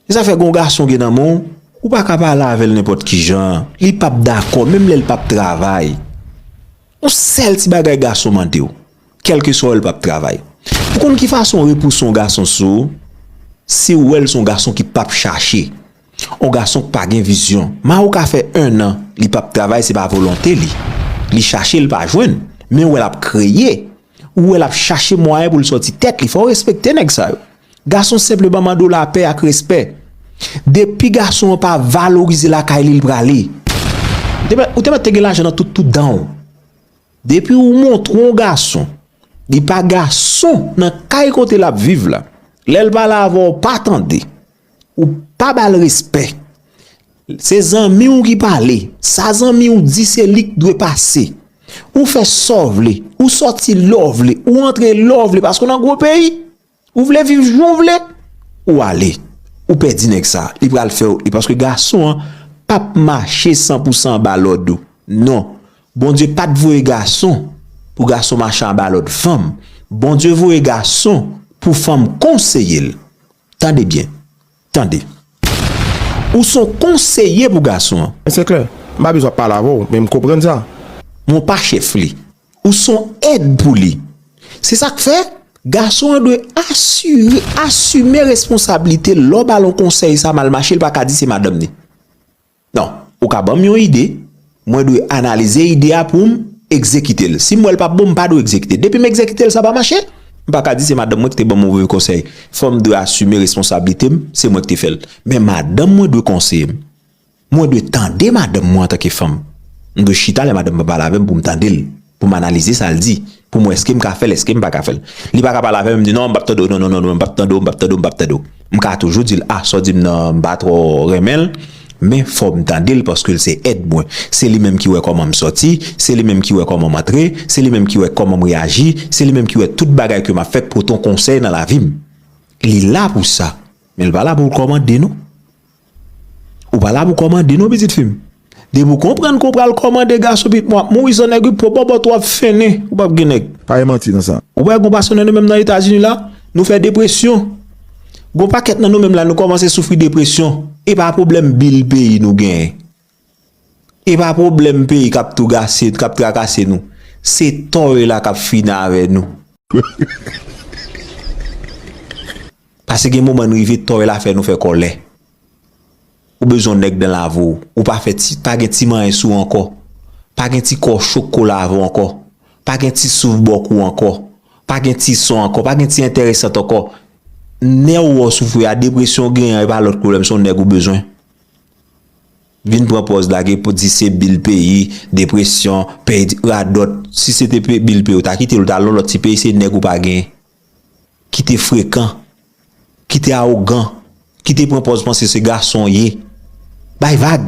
E sa fè gon gason gen nan menw ou pa ka pale avèl nenpòt kijan li pap dakò menm lèl pap travay on sèl ti bagay gason mandew kelke swa wèl pap travay ou konn ki fason repou son gason sou siw wèl son gason ki pap chache on gason ki pa gen vizyon ma ou ka fè 1 an li pap travay se pa volonte li li chache li pa jwenn men wèl ap kreye. Ou wè lap chache mwayen pou l sòti tèt li. Fò w respekte nèg sa yo. Gason senpleman mande w lapè ak respè. Depi gason an pa valorize lakay li, li prale. Ou te mèt te gen lajan nan tout tout dan w. Depi ou montre yon gason li pa gason nan kay kote lap viv la, lè l pale avè w pa tande. Ou pa bal respè. Se zanmi w ki pale. Sa zanmi w di se li k dwe pase. Ou fè sa w vle. Ou soti lè w vle. Ou antre lè w vle. Paske w nan gwo peyi. Ou vle viv jan w vle. Ou ale. Ou pèdi nèg sa. Li pral fè w. E paske gason an pap mache san pou san anba lòd ou. Non. Bondye pat voye gason pou gason mache anba lòd fanm. Bondye voye gason pou fanm konseye l. Tande byen. Tande. Ou s on konseye pou gason an. Se klè. M pa bezwen pale avè w, men m konprann sa. Men w pa chèf li. Ou s on èd pou li. Se sa k fè, gason an dwe asire, asime responsablite l lè w ba l on konsèy sa mal mache, l pa ka di se madanm ni. Non, ou ka banm yon ide, mwen dwe analize ide a poum egzekite l. Sim wè l pap bon, m pa dwe egzekite. Depim egzekite l sa pa mache, m paka di se madanm mwen ki te banm move konsèy. Fòm dwe asime responsablite m, se mwen ki te fèl. Men madanm mwen dwe konseye m. Mwen dwe tande madanm mwen antanke fanm. M dwe chita lè madanm mwen pale avèm poum tande l. pou m analize sa l di, pou m wè èske m ka fè l, èske m pa ka fè l. Li pa ka pale avè m, m di non, m p ap tande w, non, non, non, non, m p ap tande w, m p ap tande w, m p ap tande w. M ka toujou di l, a, sa w di m nan, m pa twò renmen l, men fò m tande l paske l se èd mwen. Se li menm ki wè kòman m sòti, se li menm ki wè kòman m antre, se li menm ki wè kòman m reyaji, se li menm ki wè tout bagay ke m ap fè pote yon konsèy nan lavi m. Li la pou sa, men l pa la pou l kòmande non. Ou pa la pou kòmande non pitit fim. Depi ou konprann ke w pral kòmande gason pitit mwen ap mouri san nèg wi pwobobot wap fennen ou pap gen nèg. Pa gen manti nan sa. Ou pa wè gon pason nan nou menm nan etazini la nou fè depresyon gon pakèt nan nou menm la nou kòmanse soufri depresyon epa pwoblèm bil peyi nou genyen. E pa pwoblèm peyi k ap tou gase, k ap trakase nou. Se tò yo la k ap fini avè nou. Pase gen moman n rive tò yo la fè nou fè kòlè. Ou bezwen nèg dan lave w. Ou pa fè ti, pa gen ti manyen sou w ankò. Pa gen ti kò cho k ko lave w ankò. Pa gen ti souf bò kou w ankò. Pa gen ti son ankò. Pa gen ti enteresant ankò. Nè w ou soufri a, depresyon w genyen an, e pa lòt pwoblèm, se yon nèg ou bezwen. Vin pran pòz lage pou di se bil peyi, depresyon, peyi di, radòt. Si se te pe, bil peyi ou ta kite l ou ta al nan lòt ti peyi se nèg ou pa gen. Kite frekan. Kite awogan. Kite pran pòz panse se gason w ye. Bay vag.